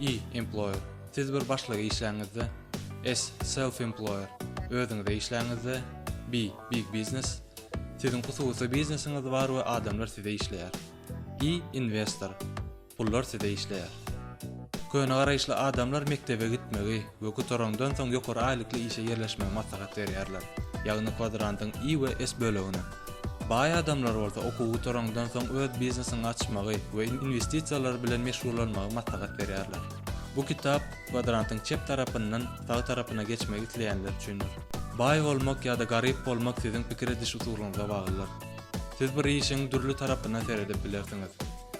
I. Employer, Siz bir başlyga işläňizde. S. Self-employer, Özüňize işläňizde. B. Big business, Siziň hususy biznesiňiz bar we adamlar size işleýär. I. Investor, Pullar size işleýär. Köne garaýyşly adamlar mekdebe gitmegi we gutarandan soň ýokary aýlykly işe ýerleşmegi maslahat berýärler, ýagny kwadrantyň I we S bölegini. Baý adamlar bolsa okuw gutaraňdan soň öz biznesini açmagy we inwestisiýalar bilen meşgullanmagy maslahat berýärler. Bu kitap kwadrantyň çep tarapyndan sag tarapyna geçmek isleýänler üçindir. Baý bolmak ýa-da garyp bolmak siziň pikir ediş usulyňyza baglydyr. Siz bir işiň dürli tarapyndan seredip bilersiňiz.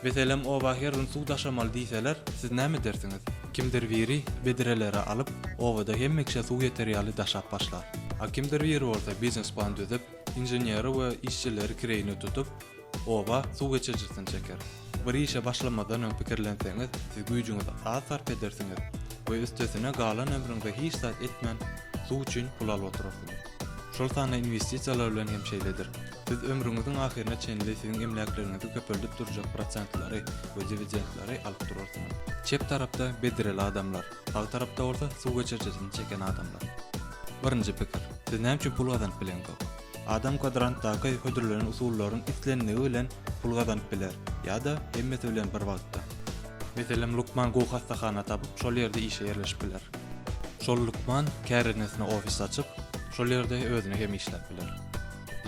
Meselem, oba her gün suw daşamaly diýseler, siz näme edersiňiz? Kimdir biri bedreleri alyp, obada hemme kişä suw ýeter ýaly daşap başlar. A kimdir biri bolsa biznes plan düzüp, Inženeri we işçileri kireýine tutup, oba suw geçirijisini çeker. Bir işe başlamazdan öň pikirlenseňiz, siz güýjüňizi az sarp edersiňiz we üstesine galan ömrüňize hiç zat etmän, suw üçin pul alyp oturarsyňyz. Şol sanda inwestisiýalar bilen hem şeýledir. Siz ömrüňiziň ahyryna çenli siziň emläkleriňizi köpeldip durjak prosentlary we diwidendleri alyp durarsyňyz. Çep tarapda bedreli adamlar. Sag tarapda bolsa suw geçirijisini çeken adamlar. Birinji pikir, siz näme üçin pul gazanyp bileňzok? Adam kwadrantdaky hödürlenen usullaryň isleniligi bilen pul gazanyp biler, ýa-da hemmesi bilen bir wagtda. Meselem, lukman gowy hassahana tapyp, şol ýerde işe ýerleşip biler. Şol lukman kärendesyna ofis açyp, şol ýerde özüne hem işläp biler.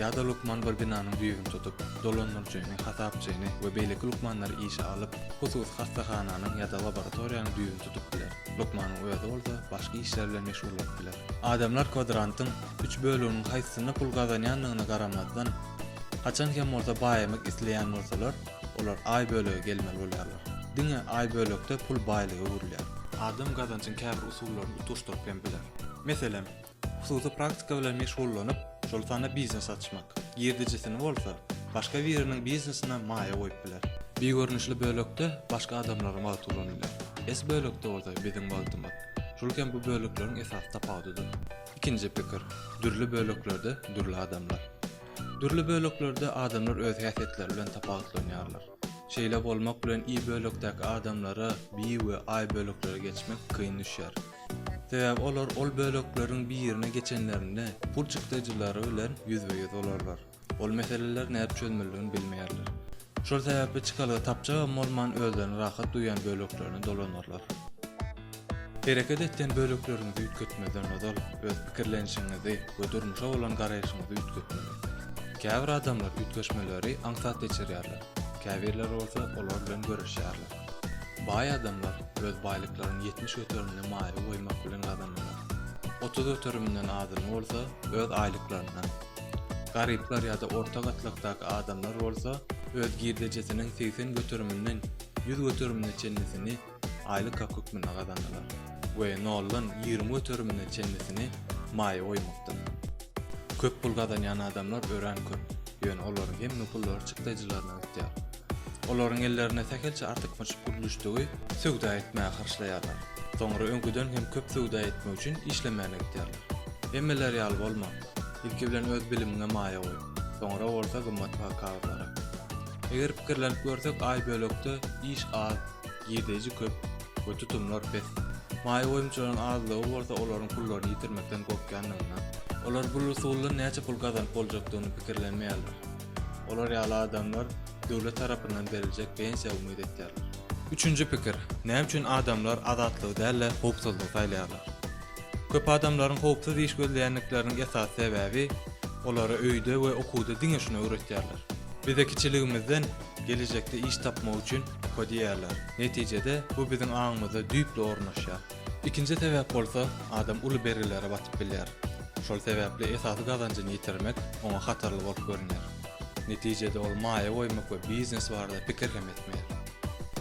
Ýa-da lukman bir binanyň düýbüni tutup, dolandyryjyny, hasapçyny we beýleki lukmanlary işe alyp, hususy hassahananyň ýa-da laboratoriýanyň düýbüni tutup biler. Lukmanyň özi bolsa başga işler bilen meşgullanyp biler. Adamlar kwadrantyň üç böleginiň haýsysynda pul gazanýandygyna garamazdan, haçan hem bolsa baýamak isleýän bolsalar, olar Aý bölege gelmeli bolýarlar. Diňe Aý bölekde pul baýlyga öwrülýär. Adam gazanjyň käbir usullaryny utgaşdyryp hem biler. Meselem, Hususy praktika bilen meşgullanyp, şol sanda biznes açmak, girdejisini bolsa, başga biriniň biznesine maýa goýup biler. Bir görnüşli bölekde başga adamlaryň wagty ulanylýar. S bölekde bolsa biziň wagtymyz. Şul hem bu bölekleriň esasy tapawudydyr. Ikinji pikir, dürli böleklerde dürli adamlar. Dürli böleklerde adamlar öz häsiýetleri bilen tapawutlanýarlar. Şeýle bolmak bilen I bölekdäki adamlara, B we I böleklere geçmek kyn düşýär. Sebäbi olar ol bölekleriň birine geçenlerinde pul çykdajylary bilen ýüzbe-ýüz bolarlar. Ol meseleler nädip çözmelidigini bilmeýärler. Şol sebäpli çykalga tapjagam bolman özlerini rahat duýýan böleklerine dolanarlar. Hereket etýän bölekleriňizi üýtgetmezden ozal öz pikirlenişiňizi we durmuşa bolan garaýşyňyzy üýtgetmeli. Käbir adamlar üýtgeşmeleri aňsat geçirýärler, käbirleri bolsa olar bilen göreşýärler. Baý adamlar öz baýlyklaryny ýetmiş göterimine maýa goýmak bilen gazanarlar. Otuz göteriminden azyny bolsa öz aýlyklaryndan. Garyplar ýa-da orta gatlakdaky adamlar bolsa öz girdejisiniň segsen göteriminden ýüz göterimine çenlisini aýlyk hak hökmünde gazanarlar we noldan ýigrimi göterimine çenlisini maýa goýmakdan. Köp pul gazanýan adamlar örän köp, ýöne olaryň hemme pullary çykdajylaryna gitýär. Olaryň ellerinde sähelçe artykmaç pul düşdügi söwda etmäge harçlaýarlar. Soňra öňküden hem köp söwda etmek üçin işlemäne gidýärler. Hemmeler ýaly bolma. Ilki bilen öz bilimiňe maýa goý. Soňra bolsa gymmatbaha kagyzlara. Eger pikirlenip görsek aý bölekde iş az, girdeýji köp we tutumlar pes. Maýa goýumçylaryň azlygy bolsa olaryň pullaryny ýitirmekden gorkýandygyna. Olar bul usuldan näçe pul gazanyp boljakdygyny pikirlenmeýärler. Olar ýaly adamlar döwlet tarapyndan beriljek pensiýa umyt etýärler. Üçünji pikir, näme üçin adamlar azatlygy däl-de howpsuzlygy saýlaýarlar? Köp adamlaryň howpsuz iş gözleýändikleriniň esasy sebäbi, olara öýde we okuwda diňe şuny öwretýärler. Bize kiçiligimizden gelejekde iş tapmak üçin oka diýýärler. Netijede, bu biziň aňymyzda düýpli ornaşýar. Ikinji sebäp bolsa, adam uly bergilere batyp bilýär. Şol sebäpli esasy gazanjyny ýitirmek oňa hatarly bolup görünýär. Netijede ol maýa goýmak we biznes barada pikir hem etmeýär.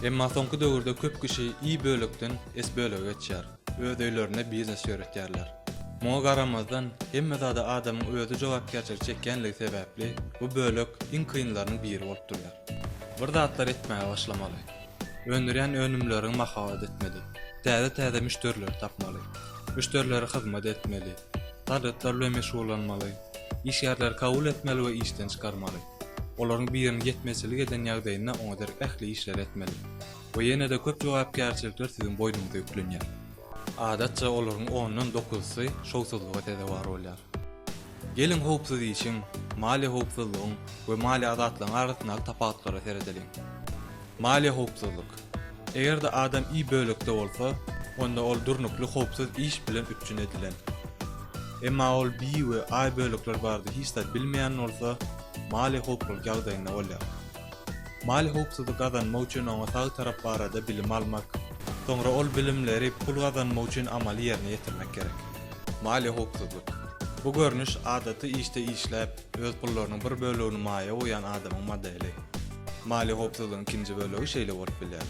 Emma soňky döwürde köp kişi I bölekden S bölege geçýär, öz öýlerinde biznes ýöretýärler. Muňa garamazdan, hemme zada adamyň özi jogapkärçilik çekýänligi sebäpli bu bölek iň kynlarynyň biri bolup durýar. Bir zatlar etmäge başlamaly. Öndürýän önümleriňi mahabat etmeli. Täze-täze müşderileri tapmaly. Müşderilere hyzmat etmeli. Harytlar bilen meşgullanmaly. Işgärleri kabul etmeli we işden çykarmaly. Olaryň biriniň ýetmezçilik eden ýagdaýynda oňa derek ähli işleri etmeli. We ýene-de köp jogapkärçilikler siziň boýnuňyza ýüklenýär. Adatça olaryň ondan dokuzysy şowsuzlyga sezewar bolýar. Geliň howpsuz işiň, maliýe howpsuzlygyň we maliýe azatlygyň arasyndaky tapawutlara seredeliň. Maliýe howpsuzlyk. Eger-de adam I bölekde bolsa, onda ol durnukly howpsuz iş bilen üpjün edilen. Emma ol B we I bölekler barada hiç zat bilmeýän bolsa, maliýe howpsuzlyk ýagdaýynda bolýar. Mali howpsuzlyk gazanmak üçin oňa sag tarap barada bilim almak, soňra ol bilimleri pul gazanmak üçin amaly ýerine ýetirmek gerek. Mali howpsuzlyk. Bu görnüş adaty işde işläp, öz pullarynyň bir bölegini maýa goýýan adamyň modeli. Mali howpsuzlygyň ikinji bölegi şeýle bolup bilýär.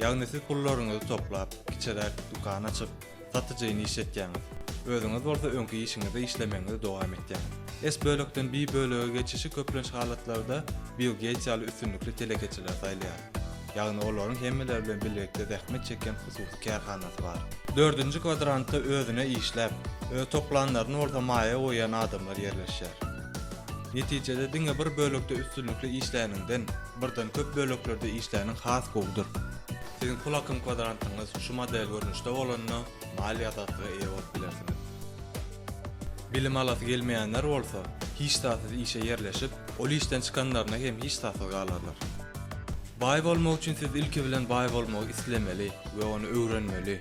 Ýagny siz pullaryňyzy toplap, kiçiräk dükan açyp, Gaty jeýny iş etýäňiz. Özüňiz bolsa öňki işiňizde işlemegiňizi dowam etýäňiz. S bölekden B bölege geçişi köplenç halatlarda Bill Geýts ýaly üstünlikli telekeçiler saýlaýar. Ýagny olaryň hemmeler bilen bilelikde zähmet çekýän hususy kärhanasy bar. Dördünji kwadrantda özüne işläp, öz toplanlaryny bolsa maýa goýýan adamlar ýerleşýär. Netijede diňe bir bölekde üstünlikli işläniňden, Birden köp böleklerde işläniň has gowudyr. Siziň pul akym kwadrantyňyz şu model görnüşde bolanda maliýe azatlyga eýe bolup bilersiňiz. Bilim alasy gelmeýänler bolsa, hiç zatsyz işe ýerleşip, ol işden çykanlarynda hem hiç zatsyz galarlar. Baý bolmak üçin siz ilki bilen baý bolmagy islemeli we ony öwrenmeli.